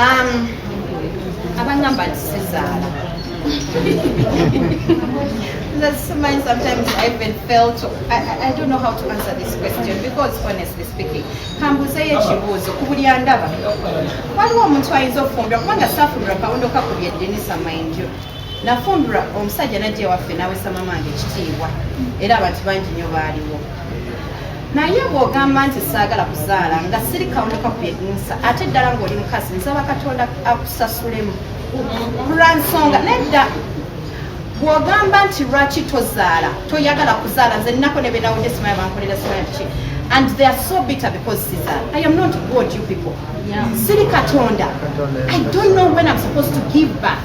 um, abangamba nti sizaala That's mine sometimes I even fail to, I, I don't know how to answer this question because honestly speaking, kambuzeyo ekibuuzo ku buli andaba waliwo omuntu ayinza okufumbira kubanga safumbira kawundo kakubye denisa mind you nafumbirwa omusajja najja ewaffe nawesa mamange ekitiibwa era abantu bangi nyo baaliwo naye bw'ogamba nti saagala kuzaala nga siri kawuka kwegunsa ate ddala ng'oli mukazi nsaba katonda akusasulemu lwa nsonga nedda bw'ogamba nti lwaki tozaala toyagala kuzaala nze nnako ne benawudde simaya bankolera simaya ki and they are so bitter because Caesar. I am not God, you people. Yeah. Silly Katonda. I don't know when I'm supposed to give back.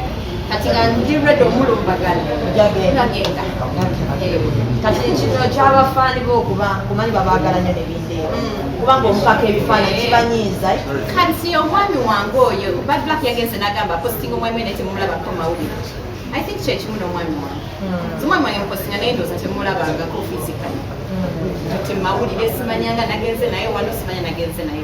kati nga ndi redo omulumbagala nagenda kati kino kyabafaani bo okuba kumanyi babagala nyo nebindeeo mm. kubanga omupaka ebifaananyi eh. kibanyiiza eh? kati omwami wange oyo badlak yagenze nagamba posting omwami wene temumulabako mawulire i think kyekimu nomwami wange mm. omwami wange mupostinga naye ndooza temulabangako physically mm. kati mawulire simanyanga nagenze naye wano simanya nagenze naye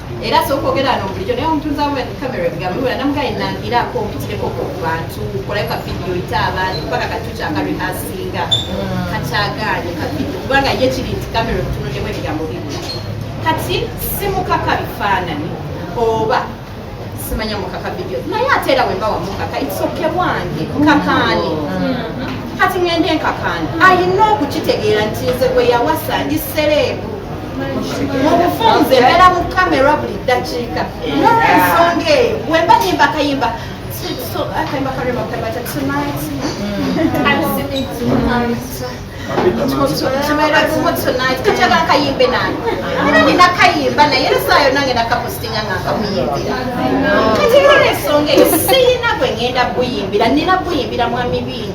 era sooka ogera no bulijjo naye omutunzi amuba ni kamera ebigambo bibula namugaa enangiraako omututireko ku bantu kolayo ka vidiyo ite abantu kubanga kati tukyaka rehasinga mm. kakyagaanye ka vidiyo kubanga ye kiri nti kamera omutunulyemu ebigambo bibula kati simukaka bifaanani oba simanya mukaka vidiyo naye ate era wemba wamukaka itsoke bwange nkakaani mm. kati ngende nkakaani ayina okukitegeera nti nze gwe yawasa ndi sereebu mu bufunze mbeera mu kamera buli ddakiika nolwensonga eyo wemba nyimba akayimba akayimba kalema kayimba tonight tukyagala kayimbe nani era nina kayimba naye era saa yonna ngenda kapostinga nga nkamuyimbira kati era olwensonga eyo siyina gwe ngenda buyimbira nina buyimbira mwami biini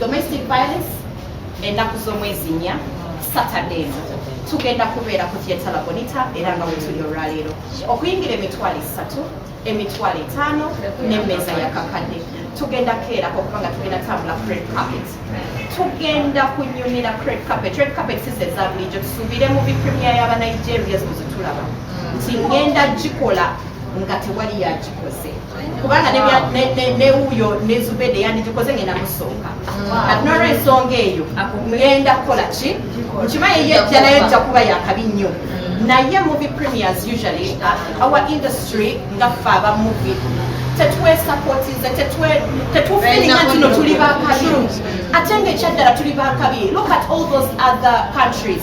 domestic violence ennaku z'omwezi nnya saturday eno tugenda kubeera ku theatre labonita era nga wetuli olwaleero okuyingira emitwalo esatu emitwalo etaano n'emmeeza ya kakadde tugenda keerako okuba nga tugenda tambula cred carpet tugenda kunyumira cred carpet red carpet size eza bulijjo tusuubire mu bipremia y'aba nigerias muzitulaba nti ngenda gikola nga tewali yagikoze kubanga newuyo nezubede yandijikoze ngenda musonga kati nolwensonga eyo ngenda kukola ki nkimaye yejja naye jja kuba yakabi nnyo naye movie premiers usually uh, our industry nga ffe aba movie tetwesapotize tetufilinga nti no tuli bakabi ate ngaekyaddala tuli bakabi look at all those other countries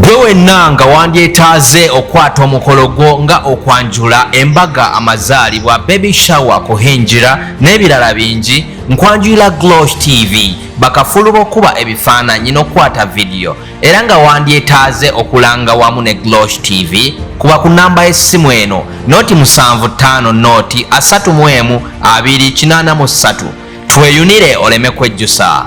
gwe wenna nga wandyetaaze okukwata omukolo gwo nga okwanjula embaga amazaalibwa baby shower kuhingira n'ebirala bingi nkwanjulira glosh tv bakafulu b'okuba ebifaananyi n'okukwata vidiyo era nga wandyetaaze okulanga wamu ne glosh tv kuba ku namba y'essimu eno noti 75 noti 3 mu emu 2 8 mu 3 tweyunire oleme kwejjusa